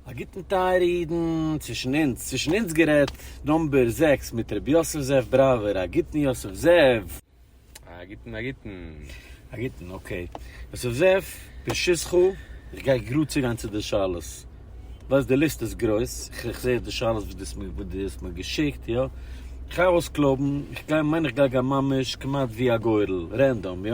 א גוטן טייערע אידן, צווישן אונז, צווישן אונז גערעדט, נאמבער זעקס מיט ר' יוסף זאב בראווער, א גוטן יוסף זאב. א גוטן א גוטן. א גוטן, אקעי. יוסף זאב, ברשות כו, איך גיי גראד צוגיין צו די שאלות. ווייסט די ליסט איז גרויס, איך זע די שאלות וואס דו האסט מיר געשיקט, יא. איך גיי אויסקלויבן, איך גיי, מיין איך גיי גיין ממש כמעט ווי א גורל, רענדאם, יא.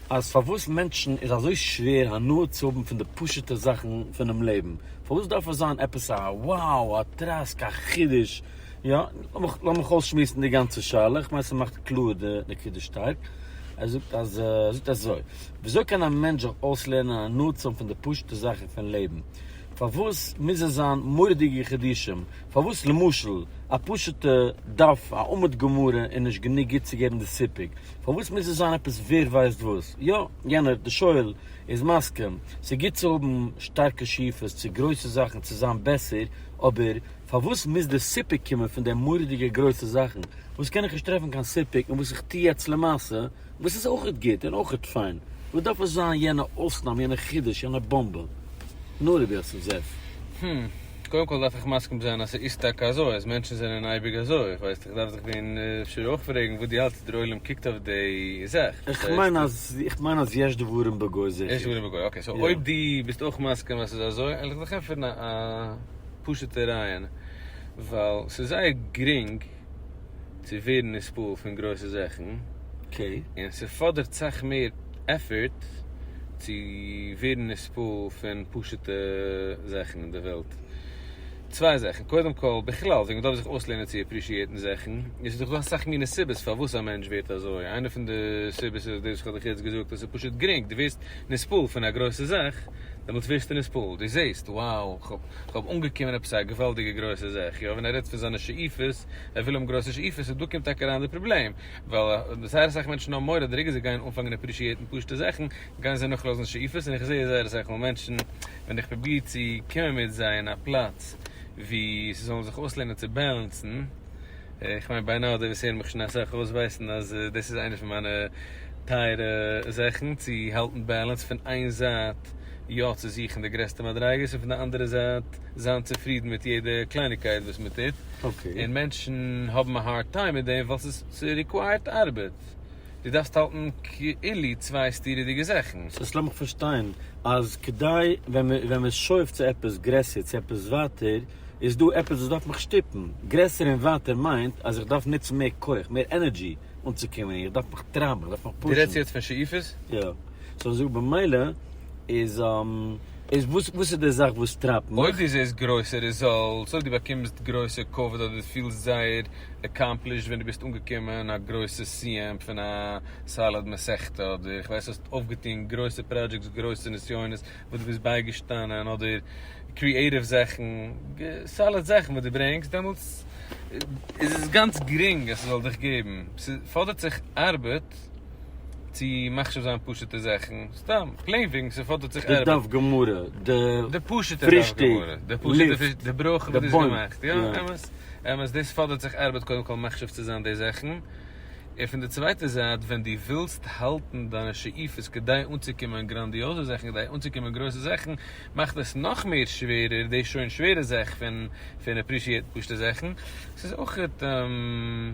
אז פארוואס מענטשן איז אזוי שווער הנאה צו האבן פון די פשוט'ע זאכן פונעם לעבן, פארוואס דארף עס זיין עפעס א wow, א טראסק, א חידוש, יא, לאמיך אויסשמועסן די גאנצע שאלה, איך מיין ס'מאכט קלאר די נקודה שטארק, ער זאגט אז ער זאגט אזוי, וויאזוי קען א מענטש זיך אויסלערנען הנאה צו האבן פון די פשוט'ע זאכן פון לעבן, פארוואס מוז עס זיין מורא'דיגע חידושים, פארוואס למשל א פשוט'ע דף א עמוד גמרא איז נישט גענוג גוט צו געבן די סיפוק, פארוואס מוז עס זיין עפעס ווער ווייסט וואס? יא, יענער, די שואל, איז מסכים, ס'איז גוט צו האבן שטארקע שאיפות צו גרויסע זאכן צו זיין בעסער, אבער פארוואס מוז דער סיפוק קומען פון די מורא'דיגע גרויסע זאכן וואס קען איך נישט טרעפן קיין סיפוק און וואס איך טו יעצט למעשה וואס איז אויכעט גוט און אויכעט פיין? וואס דארף עס זיין יענע אויסנאם, יענע חידוש, יענע באמבע? נאר רבי יוסף זאב. קודם כל דארף איך מסכים זיין אז ס'איז טאקע אזוי אז מענטשן זענען אייביג אזוי, איך ווייס איך דארף זיך ווען אפשר אויך פרעגן וואס דו האלטסט ווי דער עולם קוקט אויף די זאך. איך מיין אז איך מיין אז יש דברים בגוי זיכער. יש דברים בגוי, אקעי סאו אויב דו ביסט אויך מסכים אז ס'איז אזוי על'ך דיך ענטפערן א פשוטע רעיון ווייל ס'איז זייער גרינג. צו ווערן נספּעל פון גרויסע זאכן, און ס'פאדערט סאך מער עפערט צו ווערן נספּעל פון פשוטע זאכן אין די וועלט. צוויי זאכן, קודם כל, בכלל וועגן מ'דארף זיך אויסלערנען צו עפּרישיעטן זאכן, עס איז דאך דא אסאך מיני סיבות פארוואס א מענטש ווערט אזוי, איינע פון די סיבות איז דאס וואס כ'האב דיך יעצט געזאגט, אז ס'איז פשוט גרינג, דו ווערסט נספּעל פון א גרויסע זאך, דעמאלטס ווערסטו נספּעל, דו זעסט, wow, כ'האב. כ'האב אנגעקומען עפעס א געוואלדיגע גרויסע זעה איך יא, ווען ער רעדט פון זיינע שאיפות, ער וויל האבן גרויסע שאיפות, און דא קומט טאקע אריין די פראבלעם, ווייל זייער אסאך מענטשן האבן מורא אז די רגע זיי גייען אנפאנגען עפרישיעטן פשוט'ע זאכן, גייען זיי נאכלאזן שאיפות, און איך זעה זייער אסאך מאל מענטשן, ווען איך פרוביר צו קומען מיט זיי אין א פלאץ וואו זיי זאלן זיך אויסלערנען צו בעלענסן, איך מיין ביי נאו די וואס הערן מיך שוין אסאך אויס ווייסן אז דאס איז איינע פון מיינע טייערע זאכן צו האלטן בעלענס פון איין זייט יא צו זוכן די גרעסטע מדריגות און פון די אנדערע זייט זיין צופרידן מיט יעדע קלייניגקייט וואס מען טוט און מענטשן האבן א הארד טיים מיט דעם ווייל ס'ריקווייערט ארבעט דו דארפסט האלטן כאילו צוויי סתירה'דיגע זאכן. סאו לאמיך פארשטיין אז כדי ווען מען שואף צו עפעס גרעסער צו עפעס ווייטער איז דא עפעס וואס דארף מיך שטופן גרעסער און ווייטער מיינט אז איך דארף נוצן מער כח, מער ענערדזשי אנצוקומען, איך דארף מיך טרייבן, איך דארף מיך פושן. דו רעדסט יעצט פון שאיפות? יא. סאו זאג במילא איז איז וואס וואס איז די זאך וואס טרייבט מיך? אויב דו זעסט גרויסע רעזאלטס, אויב דו באקומסט גרויסע כבוד אדער דו פילסט זייער עקאמפלישד ווען דו ביסט אנגעקומען א גרויסע סיום פון א סאליד מסכתא אדער איך ווייס האסט אויפגעטון גרויסע פראדזשעקטס גרויסע נסיונות וואס דו ביסט בייגעשטאנען אדער קריעטיוו זאכן, סאליד זאכן וואס דו ברענגסט, דעמאלטס איז עס גאנץ גרינג אז ס'זאל דיך געבן. ס'פאדערט זיך ארבעט צו מחשיב זיין פשוט'ע זאכן, סתם פלעין וועגן ס'פאדערט זיך ארבעט. די דף גמרא, די פרישטאג, לופט, די בוים. יא, אמת, אמת, דאס פאדערט זיך ארבעט קודם כל מחשיב צו זיין די זאכן, און פון די צווייטע זייט ווען דו ווילסט האלטן דיינע שאיפות כדי אנצוקומען גראנדיעזע זאכן, כדי אנצוקומען גרויסע זאכן, מאכט עס נאך מער שווערער די שוין שווערע זאך פון פון עפרישיעטן פשוט'ע זאכן. עס איז אויכעט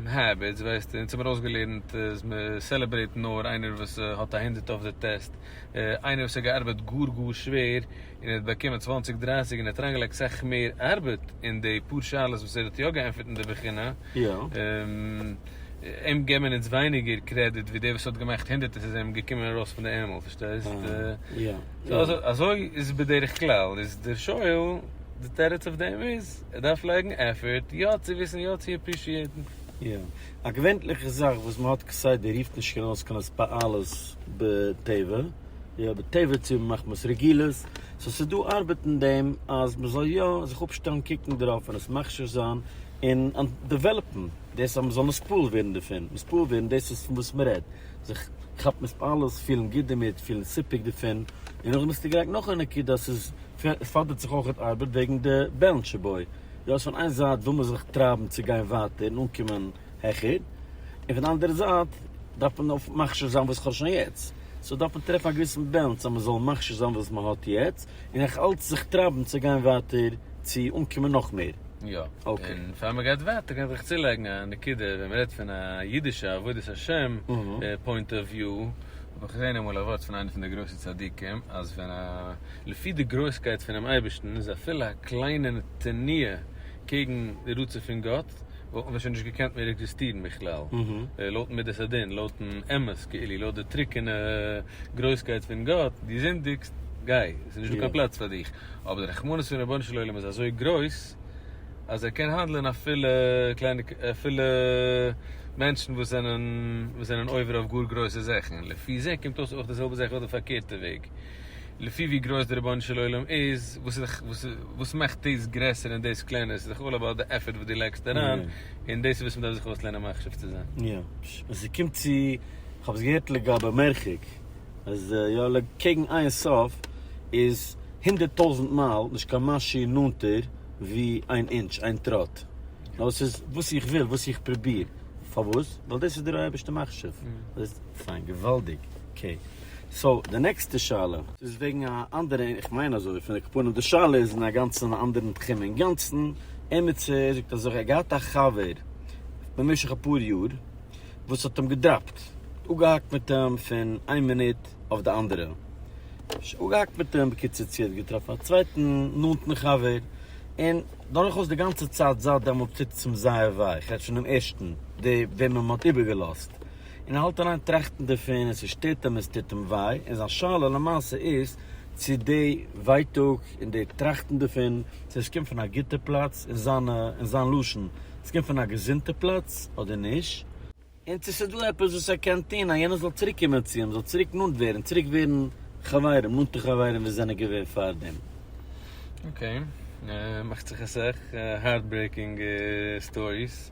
העביטס, ווייסטו, אונז האבן מיר אויסגעלערנט אז מען סעלעברעיט נאר איינער וואס האט א הונדערט אויף די טעסט, איינער וואס האט געארבעט גאר גאר שווער, און ער האט באקומען צוואנציג דרייסיג און ער האט אריינגעלייגט סאך מער ארבעט אין די פאר שאלות וואס ער האט יא געענטפערט אין די בחינה, אים געבן מיר אונז ווייניגער קרעדיט ווי דער וואס האט געמאכט הונדערטער ס'איז אים געקומען ארויס פון די ערמל פארשטייסט? אזוי איז בדרך כלל איז דער שואל די תירוץ אויף דעם איז ער דארף לייגן עפערט יא צו וויסן יא צו עפרישיעטן. א געווענטליכע זאך וואס מען האט כסדר רופט נישט קיין אויס קיין התפעלות בטבע, יא בטבע צו מחמת רגילות, סאו ס'איז דא ארבעט אין דעם אז מען זאל יא זיך אפשטעלן קוקן דערויף און עס מכשיר זיין און דעוועלאפן דאס אז מען זאל נתפעל ווערן דערפון, נתפעל ווערן דאס איז פון וואס מען רעדט, זיך כאפן התפעלות, פילן גוט דערמיט, פילן סיפוק דערפון, און נאכדעם ביסטו גרייט נאך א נקודה אז ס'איז. פאדערט זיך אויכעט ארבעט וועגן די בעלנטשע בוי. דו האסט פון איין זייט וויל מען זיך טרייבן צו גיין ווייטער און אנקומען העכער, און פון די אנדערע זייט דארף מען אויף מכשיר זיין וואס איך האב שוין יעצט. סאו דארף מען טרעפן א געוויסן בעלנס אז מען זאל מכשיר זיין וואס מען האט יעצט, און נאך אלץ זיך טרייבן צו גיין ווייטער צו אנקומען נאך מער. יא. און פאר מען גייט ווייטער קען איך צולייגן א נקודה, ווען מען רעדט פון א אידישע עבודת השם פוינט אוו וויו, האב איך געזען אמאל א ווארט פון איינע פון די גרויסע צדיקים, אז ווען א. לפי די גרויסקייט פונעם אייבערשטן איז אפילו א קליינע נתני' קעגן די רצון פון גאט, וואלט מען שוין נישט געקענט מער עקזיסטירן בכלל, לויט מידת הדין, לויט'ן אמת כאילו, לויט די טרוקענע גרויסקייט פון גאט, דו זינדיגסט, גיי, עס איז נישט דא קיין פלאץ פאר דיך, אבער די רחמנות פון רבונו של עולם איז אזוי גרויס, אז ער קען האנדלען אפילו קליינע, אפילו מענטשן וואס זענען, וואס זענען עובר אויף גאר גרויסע זאכן, לפי זה קומט אויס אויך די זעלבע זאך אויף די פארקערטע וועג. לפי ווי גרויס די רבונו של עולם איז, וואס איז די, וואס מאכט דאס גרעסער און דאס קלענער, ס'איז דאך אלל אבאוט די עפערט וואס דו לייגסט אריין, און דאס איז וואס מ'דארף זיך אויסלערנען מחשיב צו זיין. יא, ווען ס'קומט צו, כ'האב עס געהערט לגבי מרחק, אז יא קעגן איין סוף איז הונדערט טויזנט מייל נישט קיין משהו נאנטער ווי איין אינטש, איין טראט, נאר ס'איז וואס איך וויל, וואס איך פרוביר, פארוואס? ווייל דאס איז דער אייבערשטער מחשיב, פיין, געוואלדיג, אקעי. סאו די נעקסטע שאלה איז וועגן א אנדערע, איך מיין אזוי פון די קאפונים, די שאלה איז אין א גאנצן אנדערן תחום אינגאנצן, עמיצער זאגט אזוי, ער האט געהאט א חבר במשך אפאר יאר וואס האט אים געדראפט, אפגעהאקט מיט אים פון איין מינוט אויף די אנדערע, אפגעהאקט מיט אים, בקיצור צו ער האט געטראפן א צווייטן נאנטן חבר, און דורכאויס די גאנצע צייט זייט דעמאלטס טוט עס אים זייער וויי, כ'רעד פונעם ערשטן, דער וועמען מען האט איבערגעלאזט, און האלט אריין טראכטן דערפון און ס'שטערט אים און ס'טוט אים וויי, און זיין שאלה למעשה איז צו די ווייטאג און די טראכטן דערפון צו עס קומט פון א גוטע פלאץ און זיינע און זיין לשון עס קומט פון א געזונטע פלאץ אדער נישט, און צו ס'איז דא עפעס וואס ער קען טון אז יענער זאל צוריק קומען צו אים, זאל צוריק נאנט ווערן, צוריק ווערן חברים, נאנטע חברים ווי זענען געווען פארדעם. אקעי, מאכט זיך א סך הארטברעיקינג סטאריס.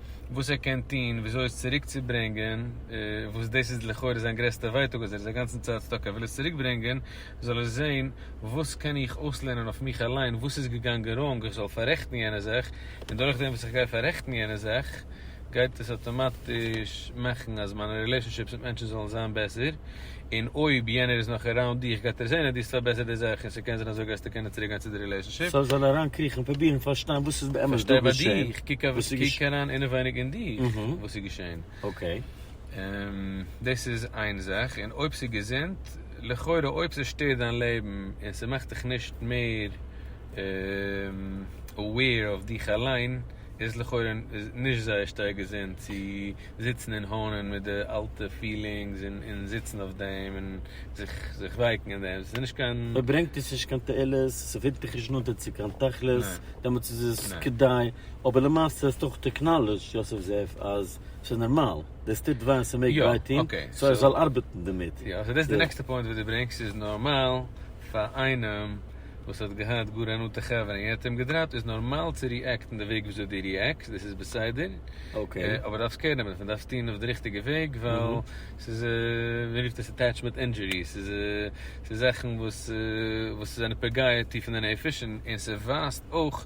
וואס ער קען טון וויאזוי עס צוריק צו ברענגען, וואס דאס איז לכאורה זיין גרעסטע ווייטאג אז ער איז א גאנצן צייט סטאק ער וויל עס צוריק ברענגען, זאל ער זען וואס קען איך אויסלערנען אויף מיך אליין וואס איז געגאנגען ראנג איך זאל פאררעכטן יענע זאך, און דורך דעם וואס איך גיי פאררעכטן יענע זאך גייט עס אטאמאטיש מאכן אז מיינע רילעשאנשיפס מיט מענטשן זאלן זיין בעסער. און אויב יענער איז נאך אראונד דיך גייט ער זעהן אז דו האסט פארבעסערט די זאך און ס'קען זיין אזוי גייסטו קענען צוריק גיין צו די רילעשנשיפ. סאו זאל ער אריינקריכן און פרובירן פארשטיין וואס איז באמת דא געשעהן, וואס איז געשעהן. קוק אריין אינעווייניג אין דיך וואס איז געשעהן. אקעי. דאס איז איין זאך, און אויב ס'איז געזונט, לכאורה אויב ס'שטערט דיין לעבן און ס'מאכט דיך נישט מער אוועיר אויף דיך אליין איז עס לכאורה נישט זייער שטארק געזונט צו זיצן און האנען מיט די אלטע פילינגס און זיצן אויף דעם און זיך זיך ווייקן אין דעם, ס'איז נישט קיין. אויב ברענגט עס נישט קיין תועלת, ס'פירט דיך נישט נאנטער צו קיין תכלית, דעמאלטס איז עס כדאי, אבער למעשה האסטו אויך עקנאלעדזשד יוסף זאב אז ס'איז נארמאל, דאס טוט וויי און ס'מעג וויי טון, סאו ער זאל ארבעטן דערמיט. יא, סאו דאס איז די נעקסטע פוינט וואס דו ברענגסט, ס'איז נארמאל פאר איינעם. וואס האט געהאט גאר א נאנטע חבר און יענער האט אים געדראפט איז נארמאל צו ריעקטן די וועג וויאזוי דו ריעקסט דאס איז בסדר אבער דו דארפסט קער נעמען דאס מען דארף עס טון אויף די ריכטיגע וועג ווייל ס'איז מען רופט עס אטעטשמענט אינדזשורי ס'איז ס'איז זאכן וואס וואס זענען פוגע טיף אין די נפש און ס'ווייזט אויך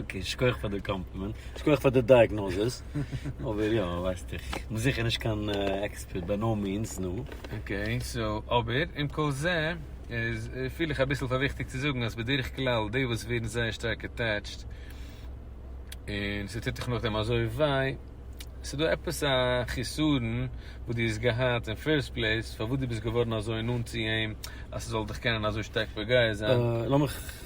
אקעי, שכוח פאר די קאמפלימענט, שכוח פאר די דייעגנאזיס, אבער יא, ווייסט איך, כ'בין זיכער נישט קיין עקספערט, ביי נאו מיענס, נו. אקעי, סאו, אבער, עם כל זה, איז, פיל איך אביסל פאר וויכטיג צו זאגן אז בדרך כלל די וואס ווערן זייער שטארק עטעטשט, און ס'טוט דיך נאכדעם אזוי וויי, ס'דא עפעס א חיסרון וואס דו האסט געהאט אין פירסט פלעיס, פארוואס דו ביסט געווארן אזוי נאנט צו אים, אז ס'זאל דיך קענען אזוי שטארק פוגע זיין. לאמיך.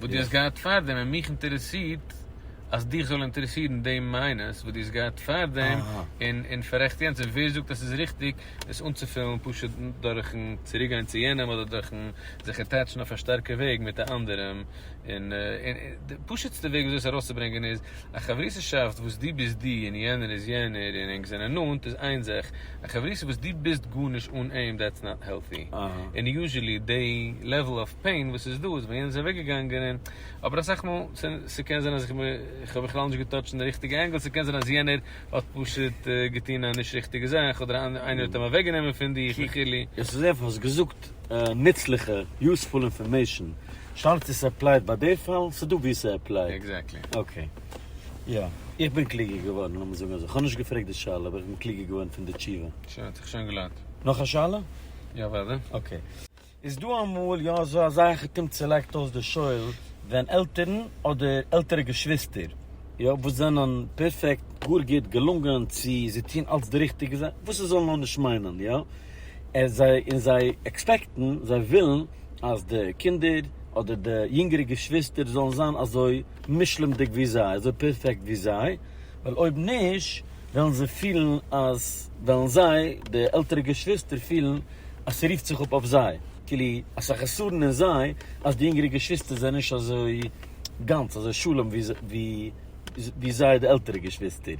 וואס דו האסט געהאט פארדעם און מיך אינטערעסירט אז דיך זאל אינטערעסירן די מיינוס וואס דו האסט געהאט פארדעם און פאררעכט יענץ און ווער זאגט אז ס'איז ריכטיג עס אנצופילן פשוט דורכ'ן צוריק גיין צו יענעם אדער דורכ'ן זיך אטעטשן אויף א שטארקע וועג מיט א אנדערעם און די פשוט'סטע וועג וויאזוי עס ארויסצוברענגען איז א חברותא'שאפט וואס דו ביסט דו און יענער איז יענער און ענק זענען נאנט איז איין זאך א חברותא וואס דו ביסט גארנישט אן אים דעטס נאט העלטי און יוזשעלי די לעוועל אוו פעין וואס איז דא איז ווען יענער איז אוועק געגאנגען און אבער אסאך מאל ס'קען זיין אז איך האב בכלל נישט געטאטשט אין די ריכטיגע ענגעל ס'קען זיין אז יענער האט פשוט געטון א נישט ריכטיגע זאך אדער איינער האט אים אוועק גענומען פון דיך וכו'. עס איז אייפער האסט געזאגט נוצליכע יוספול אינפארמעישן, שאלה צו ס'עפלייט ביי די פאל, ס'דא וואו ס'עפלייט. עקזעקטלי. אקעי. יא. איך בין קלוגער געווארן, לאמיר זאגן אזוי. כ'האב נישט געפרעגט די שאלה, אבער איך בין קלוגער געווארן פון די תשובה. שוין, האט זיך שוין געלוינט. נאך א שאלה? יא, וואדע. אקעי. איז דא אמאל יא אזוי אז אייכעטום צולייגט אויס די שול ווען עלטערן אדער עלטערע געשוויסטער יא וואס זענען פערפעקט גאר גוט געלונגען צו זיי טוהן אלץ די ריכטיגע זאך וואס עס זאל נאר נישט מיינען יא און זיי און זיי עקספעקטן זיי ווילן אז די קינדער אדער די יונגערע געשוויסטער זאלן זיין אזוי מושלם'דיג ווי זיי אזוי פערפעקט ווי זיי ווייל אויב נישט וועלן זיי פילן אז וועלן זיי די עלטערע געשוויסטער פילן אז ס'רופט זיך אפ אויף זיי, כאילו אז ס'איז א חסרון אין זיי אז די יונגערע געשוויסטער זענען נישט אזוי גאנץ אזוי שלום ווי זיי די עלטערע געשוויסטער.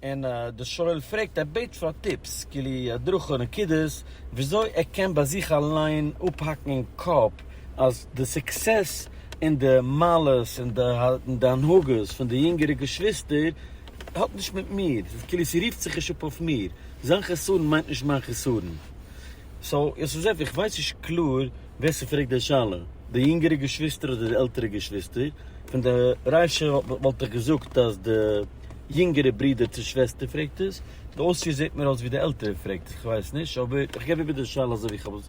און דער שואל פרעגט, ער בעט פאר טיפס, כאילו הדרכה, נקודות, וויאזוי ער קען ביי זיך אליין אפהאקן אין קאפ אז די סוקסעס און די מעלות און די הנהגות פון די יונגערע געשוויסטער האט נישט מיט מיר, כאילו ס'רופט זיך נישט אפ אויף מיר. זיין חסרון מיינט נישט מיין חסרון. סאו יוסף איך ווייס נישט קלאר ווער ס'פרעגט די שאלה, די יונגערע געשוויסטער אדער די עלטערע געשוויסטער, פון די רישא וואלט איך געזאגט אז די יונגערע ברודער צו שוועסטער פרעגט עס, די אויספיר זעט מיר אויס ווי די עלטערע פרעגט עס, כ'ווייס נישט אבער איך געב איבער די שאלה אזוי ווי כ'האב עס.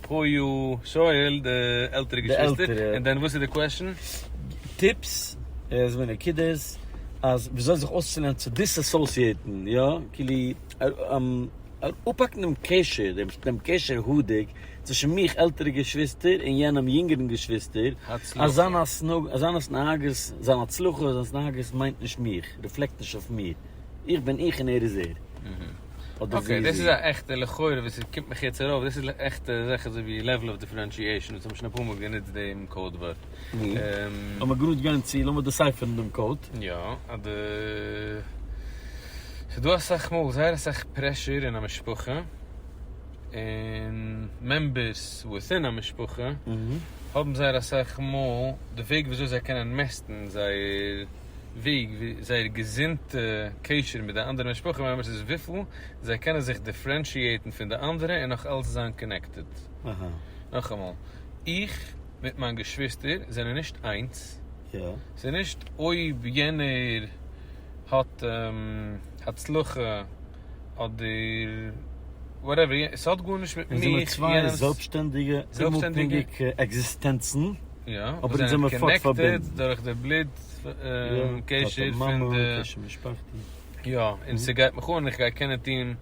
פרוי ישראל די עלטערע געשוויסטער און דען וואס איז די קוועשן? טיפס איז מן הנקודות אז וויאזוי זיך אויסצולערנען צו דיסאסאסיעיטן יא כאילו אפהאקן דעם קשר דעם קשר הדוק צווישן מיך עלטערע געשוויסטער און יענעם יונגערן געשוויסטער אז זיין התנהגות זיין התנהגות מיינט נישט מיך ריפלעקט נישט אויף מיר. איך בין איך און ער איז ער, אדער זי איז זי. אקעי, דאס איז א עכטע לכאורה וואס עס קומט מיך יעצט ארויף, דאס איז עכטע זאך אזוי ווי לעוועל אוו דיפרענשיעשאן, וואס האבן שוין אפאר מאל גענוצט דעם קאוד ווארט. לאמיר גראד גיין צו, לאמיר דעסייפערן דעם קאוד. יא, אדער ס'איז דא אסאך מאל זייער אסאך פרעשור אין א משפחה, און מעמבערס וויטין א משפחה האבן זייער אסאך מאל די וועג ווי אזוי זיי קענען מעסטן זייער. וועג ווי זייער געזונטע קשר מיט די אנדערע משפחה מעמבערס איז וויפיל זיי קענען זיך דיפרענשיעטן פון די אנדערע און נאך אלץ זיין קאנעקטעד. נאכאמאל, איך מיט מיין געשוויסטער זענען נישט איינס, ס'איז נישט אויב יענער האט הצלחה אדער וואטעווער, ס'האט גארנישט מיט מיך, יענעמס, אונז זעמער צוויי זעלבסשטענדיגע אומאפהענגיגע עקזיסטענצן, אבער אונז זעמער פארט פארבינדן, דורך די בלוט קשר פון די, קשר משפחתי, יא, און ס'גייט מיך אן, איך גיי קענען טון,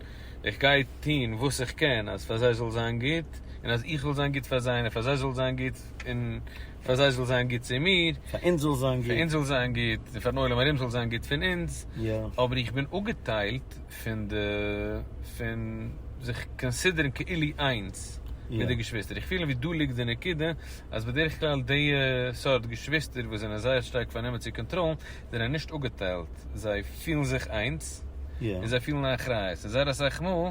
איך גיי טון וואס איך קען אז פאר זיי זאל זיין גוט, און אז איך זאל זיין גוט פאר זיי, און פאר זיי זאל זיין גוט, און. פאר זיי זאל זיין גוט צו מיר, פאר אונז זאל זיין גוט, פאר אונז זאל זיין גוט, און פארן עולם ארום זאל זיין גוט פון אונז, אבער איך בין אפגעטיילט פון די, פון זיך קאנסידערן כאילו איינס מיט די געשוויסטער, איך פיל ווי דא ליגט די נקודה, אז בדרך כלל די סארט געשוויסטער וואס זענען זייער שטארק פארנומען צו קאנטראלן, זענען נישט אפגעטיילט, זיי פילן זיך איינס, און זיי פילן א אחריות, און זייער אסאך מאל.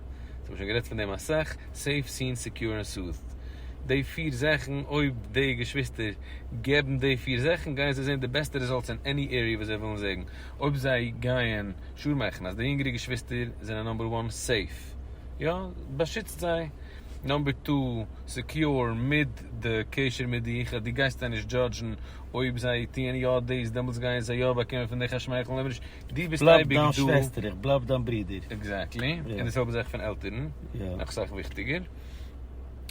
אונז האבן שוין גערעדט פון דעם אסאך, סעיף, סין, סעקיור און סאוט'ד. די פיר זאכן, אויב די געשוויסטער געבן די פיר זאכן גייען זיי זען די בעסטע רעזאלטס אין עני עריע וואס זיי ווילן זעגן. אויב זיי גייען שור מאכן אז די יונגערע געשוויסטער זענען נאמבער וואן, סעיף, יא, באשיצט זיי, נאמבער טו, סעקיור, מיד די קשר מיט דיך אז דו גייסט זיי נישט דזשאדזשן, אויב זיי טוען יא דאס דעמאלטס גייען זיי יא באקומען פון דיך א שמייכל, אויב נישט. דו ביסט אייביג דא. בלייב דיין שוועסטער, איך בלייב דיין ברודער. עקזעקטלי. און די זעלבע זאך פון עלטערן. נאך אסאך וויכטיגער.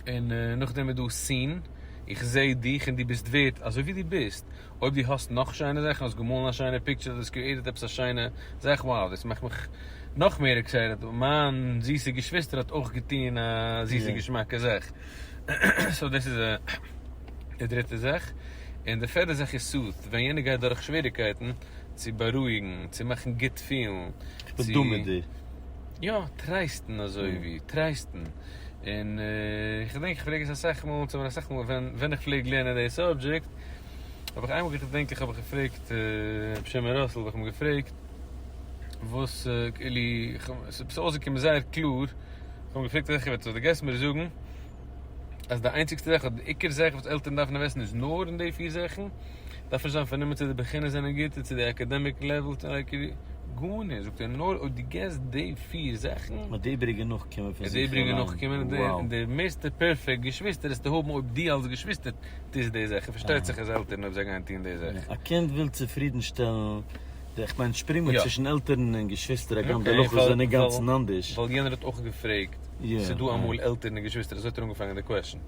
און נאכדעם איז דא seen, איך זע דיך און דו ביסט ווערד אזוי ווי דו ביסט. אויב דו האסט נאך שיינע זאכן, האסט געמאלן א שיינע פיקטשער, דו האסט קריעיטעד עפעס א שיינע זאך, wow, דאס מאכט מיך נאך מער עקסייטעד. מיין זיסע געשוויסטער האט אויך געטון א זיסע געשמאקע זאך. סאו דאס איז די דריטע זאך. און די פערדע זאך איז soothe, ווען יענער גייט דורך שוועריגקייטן. צו בארואיגן, צו מאכן גוט פילן, איך בין דא מיט דיר. יא, טרייסטן אזוי ווי, טרייסטן. און איך געדענק איך פרעג עס אסאך מאל, אונז האבן אסאך מאל ווען ווען איך פלעג לערנען די סאבדזשעקט, האב איך איינמאל געדענק איך האב איך געפרעגט ר' שמעון ראסל האב איך אים געפרעגט וואס כאילו איך האב, ס'איז אויסגעקומען זייער קלאר, איך האב אים געפרעגט אזעלכע ווערטער, זאגט ער גייסט מיר זאגן, אז די איינציגסטע זאך, אדער די עיקר זאך וואס עלטערן דארפן אינוועסטן איז נאר אין די פיר זאכן, דארף נישט זיין פארנומען צו די בחינות זענען גוט און צו די אקעדעמיק לעוועל איז אקעי, גארנישט, זאגט ער, נאר אויב דו געסט די פיר זאכן, וועט די איבריגע נאכקומען פון זיך אליין, וואו. די מערסטע פערפעקט געשוויסטער וועסטו האבן אויב דו אלס געשוויסטער טוסט די זאכן, פארשטייט זיך אז עלטערן אויב זיי גייען טון די זאכן. א קינד וויל צופרידנשטעלן די, איך מיין שפרינגען צווישן עלטערן און געשוויסטער הגם די הלכות זענען אינגאנצן אנדערש. ווייל יענער האט אויך געפרעגט. ס'דא אמאל עלטערן און געשוויסטער, אזוי האט ער אנגעפאנגען די קוועשן.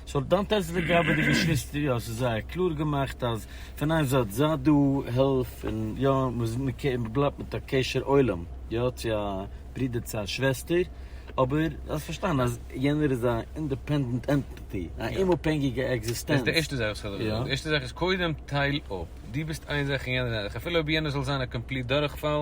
סאו דאנט טעסט לגבי די געשוויסטער, יא ס'איז זייער קלאר געמאכט אז פון איין זייט זיי דא, העלף, און יא מ'בלייבט מיט א קשר עולם, יא צו א ברודער צו א שוועסטער, אבער זיי פארשטייען אז יענער איז א אינדעפענדענט ענטיטי, א אומאפהענגיגע עקזיסטענץ. דאס איז די ערשטע זאך וואס איך האב געזאגט, די ערשטע זאך איז קודם טייל אפ, דו ביסט איין זאך און יענער איז אן אנדערע זאך, אפילו אויב יענער זאל זיין א קאמפליט דורכפאל,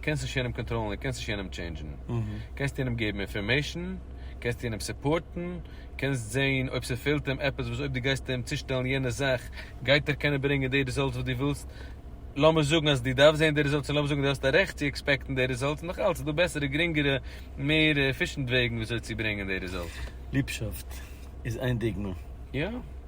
קענסט נישט יענעם קאנטראלן און קענסט נישט יענעם טשעינדזשן, קענסט יענעם געבן אינפארמעישן, קענסט יענעם סופארטן, קענסט זעהן אויב ס'פעלט אים עפעס וואס אויב דו גייסט אים צושטעלן יענע זאך גייט ער קענען ברענגען די ריזאלטס וואס דו ווילסט, לאמיר זאגן אז דו דארפסט זעהן די ריזאלטס און לאמיר זאגן דו האסט א רעכט צו עקספעקטן די ריזאלטס נאך אלץ איז דא בעסערע גרינגערע מער עפישענט וועגן וויאזוי צו ברענגען די ריזאלטס. ליבשאפט איז איין דוגמא. יא.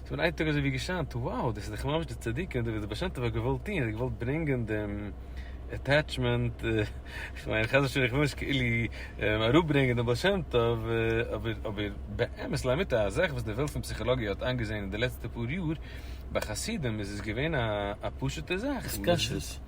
ס'איז מיר איין טאג אזוי ווי געשאנט, wow, דאס איז דאך ממש די צדיקים, דאס וואס די בעל שם טוב האט געוואלט טון, ער האט געוואלט ברענגען דעם עטעטשמענט, איך מיין חס ושלום איך וויל נישט כאילו אראפברענגען דעם בעל שם טוב, אבער אבער באמת לאמיתו א זאך וואס די וועלט פון פסיכאלאגיע האט איינגעזען אין די לעצטע פאר יאר, ביי חסידים איז עס געווען א פשוט'ע זאך. התקשרות.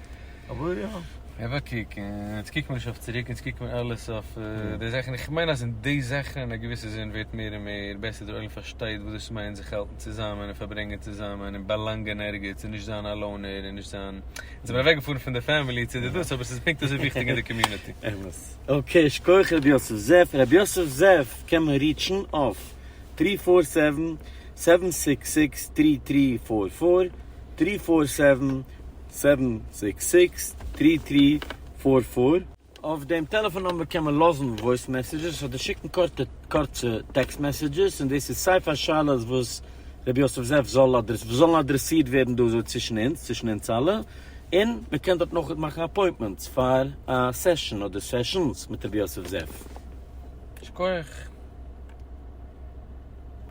אבער יא. אבער קוק, יעצט קוקן מיר נישט אויף צוריק, יעצט קוקן מיר אלעס אויף די זאכן, איך מיין אז אין די זאכן אין א געוויסע זין ווערט מער און מער בעסער, דער עולם פארשטייט וואס דאס מיינט זיך האלטן צוזאמען און פארברענגען צוזאמען און באלאנגען ערגעץ און נישט זיין א לאונער און נישט זיין, יעצט זעמיר אוועקגעפארן פון די פעמילי צו די דאס אבער ס'איז פונקט אזוי וויכטיג אין די קאמיוניטי. אמת. אקעי, שכוח ר' יוסף זאב. ר' יוסף זאב קען מען ריעטשן אויף טרי פאר סעווען, סעווען סיקס סיקס, טרי טרי פאר פאר, טרי פאר סעווען, סעווען סיקס סיקס טרי טרי פאר פאר. אויף דעם טעלעפאן נומבער קען מען לאזן וואויס מעסעדזשעס אדער שיקן קורצע טעקסט מעסעדזשעס, און דאס איז סיי פאר שאלות וואס ר' יוסף זאב וואס זאלן אדרעסירט ווערן דא אזוי צווישן אונז, צווישן אונז אלע, און מען קען דארט נאכער מאכן אפוינטמענטס פאר א סעשאן אדער סעשאנס מיט ר' יוסף זאב. שקויעך.